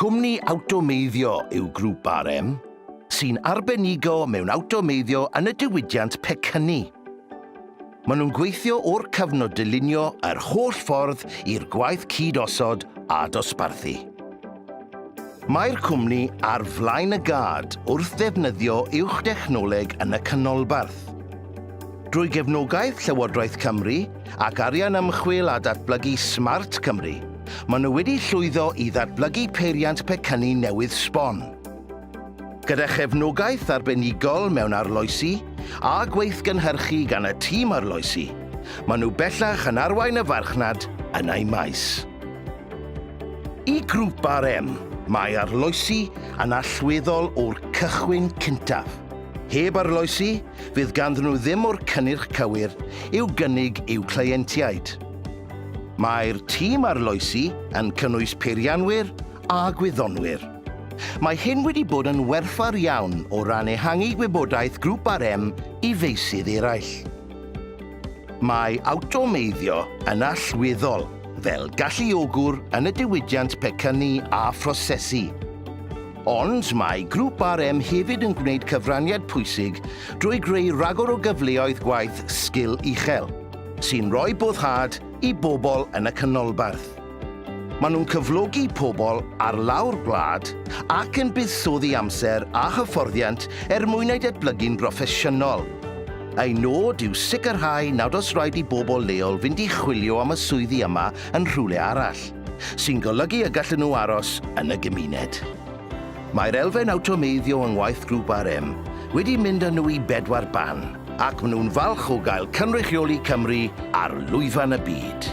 Cwmni awtomeiddio yw Grŵp RM, sy'n arbenigo mewn awtomeiddio yn y diwydiant pecynnu. Maen nhw'n gweithio o'r cyfnod dylunio yr holl ffordd i'r gwaith cyd-osod a dosbarthu. Mae'r cwmni ar flaen y gad wrth ddefnyddio uwch dechnoleg yn y canolbarth. Drwy gefnogaeth Llywodraeth Cymru ac arian ymchwil a datblygu Smart Cymru, maen nhw wedi llwyddo i ddatblygu peiriant pecynnu newydd sbon. Gyda chefnogaeth arbenigol mewn arloesi a gweithgynhyrchu gan y tîm arloesi, maen nhw bellach yn arwain y farchnad yn eu maes. I Grŵp RM, mae arloesi yn allweddol o'r cychwyn cyntaf. Heb arloesi, fydd ganddyn nhw ddim o'r cynnyrch cywir i'w gynnig i'w cleientiaid. Mae'r tîm arloesi yn cynnwys peirianwyr a gwyddonwyr. Mae hyn wedi bod yn werthfawr iawn o ran ehangu gwybodaeth Grŵp RM i feysydd eraill. Mae awtomeiddio yn allweddol fel galluogwr yn y diwydiant pecynnu a phrosesu. Ond mae Grŵp RM hefyd yn gwneud cyfraniad pwysig drwy greu rhagor o gyfleoedd gwaith sgil uchel, sy'n rhoi boddhad i bobl yn y canolbarth. Maen nhw'n cyflogi pobl ar lawr gwlad ac yn buddsoddi amser a hyfforddiant er mwyn eu datblygu'n broffesiynol. Eu nod yw sicrhau nad oes rhaid i bobl leol fynd i chwilio am y swyddi yma yn rhywle arall. sy'n golygu y gallen nhw aros yn y gymuned. Mae'r elfen awtomeiddio yng ngwaith Grŵp RM wedi mynd â nhw i bedwar ban, ac maen nhw'n falch o gael cynrychioli Cymru ar lwyfan y byd.